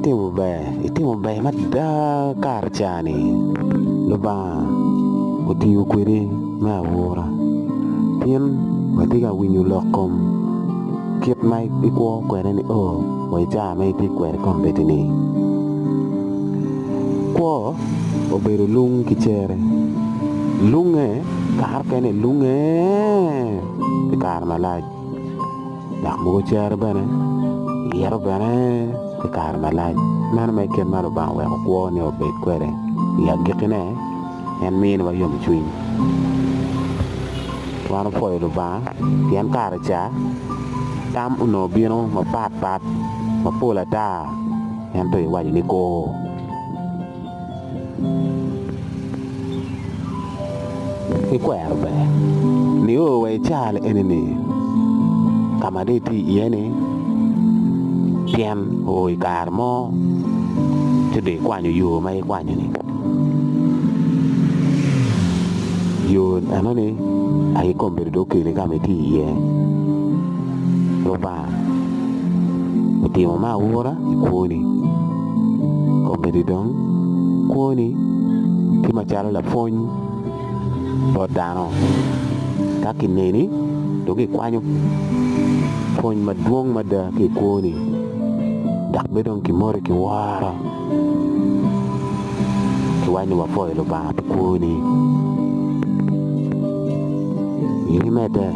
Itimo ber, itimo ber mada kare cani Lubanga otiyo kwedi me aura pien watye ka winyo lok kom kit ma ikwo kwede ni oo wa i cawa ma itye kwede kombeddi ni. Kwo obedo lung ki cere lunge kare mukene lunge pi kare malac. dok mogo cere bene iyito bene pi kare malac meno mere kit ma Lubanga oweko kwone obed kwede i agikkine en miniwa yomcwiny wan opwoyo Lubanga pien kare ca tam onongo bino mapatpat mapol ata ento iwaco ni kor. ki kwero ber nio wa i caa enini ka ma dong itye iye ni tyen oo i kare mo ci dong ikwanyo yo ma ikwanyo ni yo enoni aye kombedo dong okeli ka ma itye iye. Otimo me aura i kwoni. Kombeddi dong kwoni tye macalo lapwony bot dano. Ka kineni dong ikwanyo pwony madwong mada ki i kwoni dok bed dong kimoti ki woro. Kiwaco ni wapoyo Lubanga pi kwoni. I nge medde,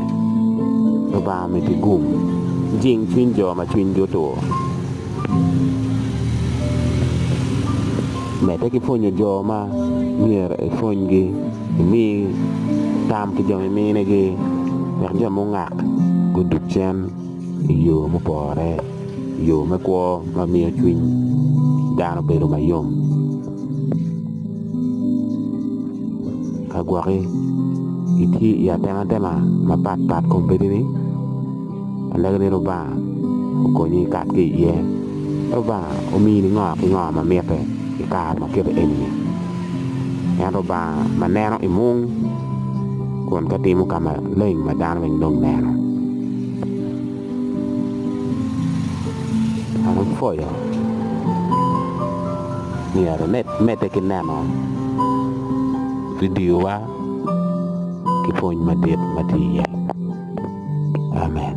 Lubanga omiti gum, jing cwiny jo ma cwinygi otur. Medde ki pwonyo jo ma myero ipwonygi, imi tam ki jo miminigi wek jo mungak gudug cen. i yo mupore yo me kwo ma miyo cwiny dano bedo mayom ka gwokki itye i atematema mapat pat kom bedo ni aneno ni lubanga okonyi ikat ki iye lubanga omini ngo ki ngo ma mitte i kare ma kiti eni-ni en lubanga ma neno imung kun ka timo ka maleng ma dano weng dong neno An apwoyo myero imedde ki neno vidiowa ki pwony madit ma tye iye. Amen.